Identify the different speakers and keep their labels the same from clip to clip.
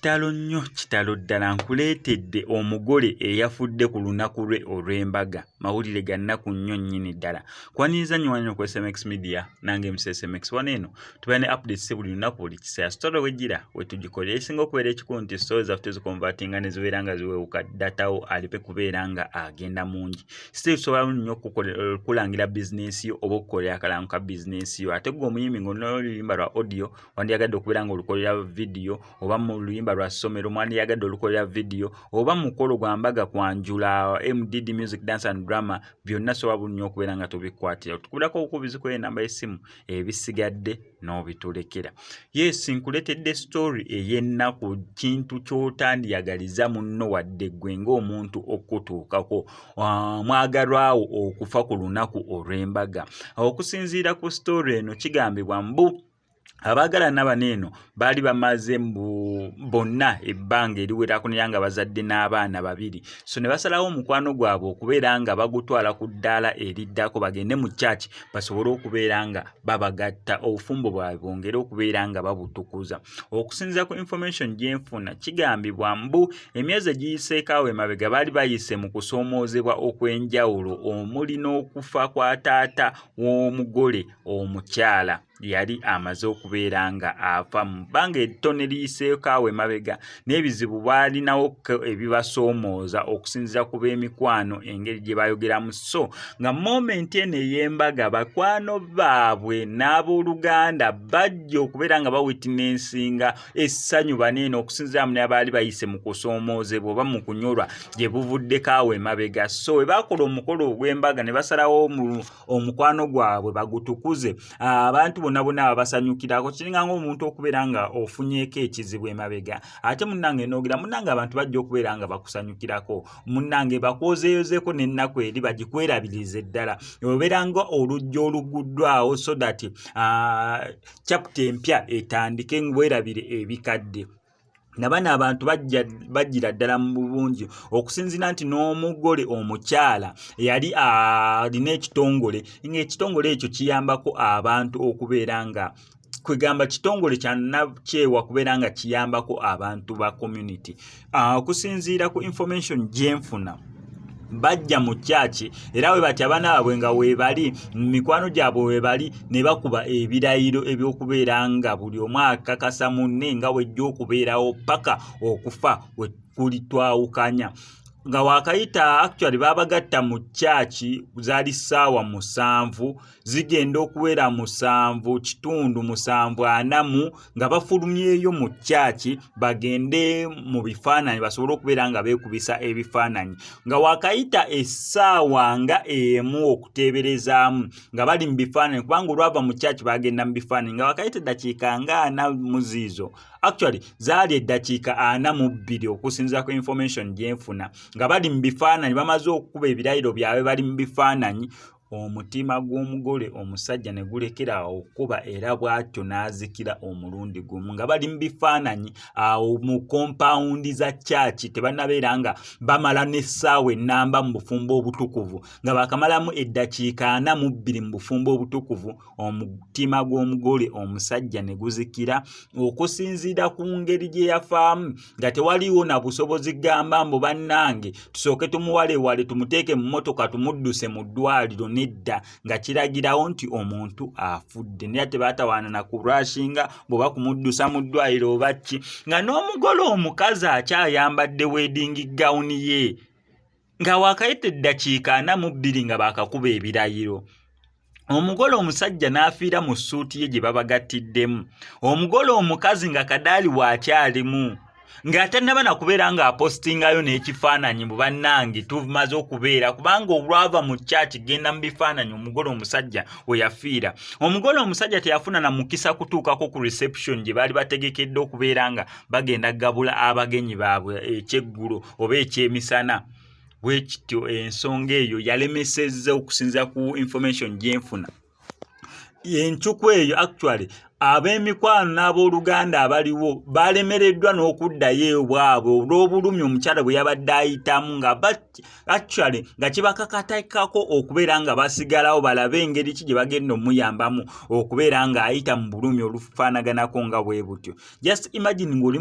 Speaker 1: kitalo nnyo kitalo ddala nkuleetedde omugole eyafudde ku lunaku lwe olw'embaga mawulire ga nnaku nnyo nnyini ddala kwaniriza nnyo wano ku smx media nange msmx wano eno tubeera ne updates buli lunaku buli kiseera story wejjira wetugikolera ekisinga okubeera ekikulu nti story zaffe tuzikonvatinga ne zibeera nga ziwewuka datawo alipe kubeera nga agenda mungi still tusobola nnyo okukulangira bizinensi yo oba okukolera akalango ka bizinensi yo ate gwe omuyimbi ngaoluluyimba lwa audio wandiyagadde okubeera nga olukolera vidiyo oba mu luyimba lwa ssomero mwandiyagadde olukolera vidiyo oba mukolo gwa mbaga kwanjula mdd music dance and drama byonna sobola bulunyo okubeera nga tubikwatira tukuberako obukubizi kweyo enamba y'essimu ebisigadde n'obitulekera yes nkuletedde story ey'ennaku kintu ky'otandiyagaliza munno wadde ggwe ng'omuntu okutuukako ah, mwagalwawo okufa ku lunaku olw'embaga okusinziira ku story eno kigambibwa mbu abaagalana bano eno baali bamaze mbu bonna ebbanga eriwerako nera nga bazadde n'abaana babiri so ne basalawo omukwano gwabwe okubeera nga bagutwala ku ddaala eriddako bagende mu kyaki basobole okubeera nga babagatta obufumbo bwabwe bwongere okubeera nga babutukuza okusinziza ku information gyenfuna kigambibwa mbu emyezi egiyiseekaawo emabega baali bayise mu kusoomoozebwa okw'enjawulo omuli n'okufa kwa taata w'omugole omukyala yali amaze okubeera nga afa mu bbanga ettone liyiseeko awo emabega n'ebizibu baalinawo ebibasoomooza okusinziira ku b'emikwano engeri gye bayogeramu so nga momenti eno ey'embaga bakwano baabwe n'abooluganda bajja okubeera nga bawitinensinga essanyu baneeno okusinziira mu nabaali bayise mu kusoomoozebwa oba mu kunyolwa gye buvuddeko awo emabega so we baakola omukolo ogw'embaga ne basalawo omukwano gwabwe bagutukuze ah, abantu bonna bonna babasanyukirako kiringa ngaomuntu okubeera nga ofunyeko ekizibu emabega ate munange nogera munange abantu bajja okubeera nga bakusanyukirako munange bakwozeyozeeko nennaku eri bagikwerabirize ddala obeera nga olugja oluguddwawo so that ah, chapta empya etandike ngwerabire ebikadde nabano abantu bajjira ddala mu bungi okusinzira nti n'omugole omukyala yali alina ekitongole ngaekitongole ekyo kiyambako abantu okubeera nga kwegamba kitongole kyanakyewa kubeera nga kiyambako abantu ba community ah, okusinziira ku information gyenfuna bajja mu kyaki era we batya abaana baabwe nga weebali mu mikwano gyabwe weebali ne bakuba ebirayiro eby'okubeera nga buli omu akakasa munne nga wejja okubeerawo paka okufa we kulitwawukanya nga wakayita actually babagatta mu kyaki zaali ssaawa musanvu zigenda okuwera musanvu kitundu musanvu anamu nga bafulumyeyo mu kyaki bagende mu bifaananyi basobole okubeera nga beekubisa ebifaananyi nga wakayita essaawa nga emu okuteeberezaamu nga bali mu bifaananyi kubanga olwava mu kyaki bagenda mu bifaananyi nga wakayita eddakiika nga ana muziizo actually zaali eddakiika ana mu bbiri okusinzira ku information gyenfuna nga bali mu bifaananyi bamaze okukuba ebirayiro byabwe bali mu bifaananyi omutima gw'omugole omusajja ne gulekera awo okukuba era bw'atyo n'azikira omulundi gumu nga bali mu bifaananyi awo mu kompawundi za kyaki tebanabeera nga bamala n'essaawa ennamba mu bufumbo obutukuvu nga baakamalamu eddakiika ana mu bbiri mu bufumbo obutukuvu omutima gw'omugole omusajja ne guzikira okusinziira ku ngeri gye yafaamu nga tewaliwo na busobozi gamba mbu bannange tusooke tumuwalewale tumuteeke mu mmotoka tumudduse mu ddwaliro nedda nga kiragirawo nti omuntu afudde naye tebaatawaana na kurashinga bweoba kumuddusa mu ddwaliro oba ki nga n'omugole omukazi akyayambadde weedingi gawuni ye nga waakayita eddakiika ana mu bbiri nga baakakuba ebirayiro omugole omusajja n'afiira mu ssuuti ye gye babagattiddemu omugole omukazi nga kadaali waakyalimu ng'ate naba nakubeera ng'apostingayo n'ekifaananyi mu bannange tumaze okubeera kubanga olwava mu kyaki genda mu bifaananyi omugole omusajja we yafiira omugole omusajja teyafuna na mukisa kutuukako ku reception gye baali bategekedde okubeera nga bagenda gabula abagenyi baabwe ekyeggulo oba ekyemisana bwe kityo ensonga eyo yalemesezza okusinzira ku information gyenfuna encuku eyo actually ab'emikwano n'abooluganda abaliwo balemereddwa n'okuddayo ewabwe olw'obulumi omukyala bwe yabadde ayitamu nga actually nga kibakakatakako okubeera nga basigalawo balabe engeri ki gye bagenda omuyambamu okubeera ng'ayita mu bulumi olufaanaganako nga bwe butyo just imagine ng'oli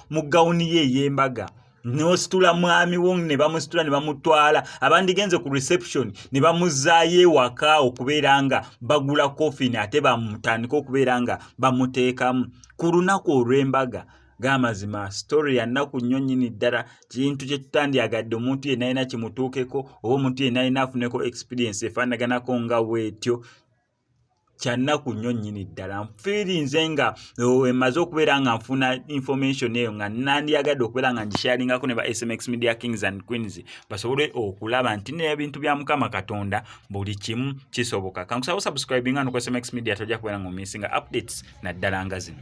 Speaker 1: mu gawuni ye ey'embaga n'ositula mwami wo ne bamusitula ne bamutwala abandigenze ku reception ne bamuzzaayo ewaka okubeera nga bagula coffin ate bamutandika okubeera nga bamuteekamu ku lunaku olw'embaga g'amazima sitore ya nnaku nnyo nnyini ddala kintu kye tutandyagadde omuntu yenna alina kimutuukeko oba omuntu yenna alina afuneko experience efaanaganako nga bwetyo kyannaku nnyo nnyini ddala nfiirinze nga emaze eh, okubeera nga nfuna information eyo nga nandiyagadde okubeera nga ngisharingako ne ba smx media kings and queens basobole okulaba nti nebintu bya mukama katonda buli kimu kisoboka kankusaba osubscribinga no ku smx media tojja kubeera nga omisinga updates naddala nga zino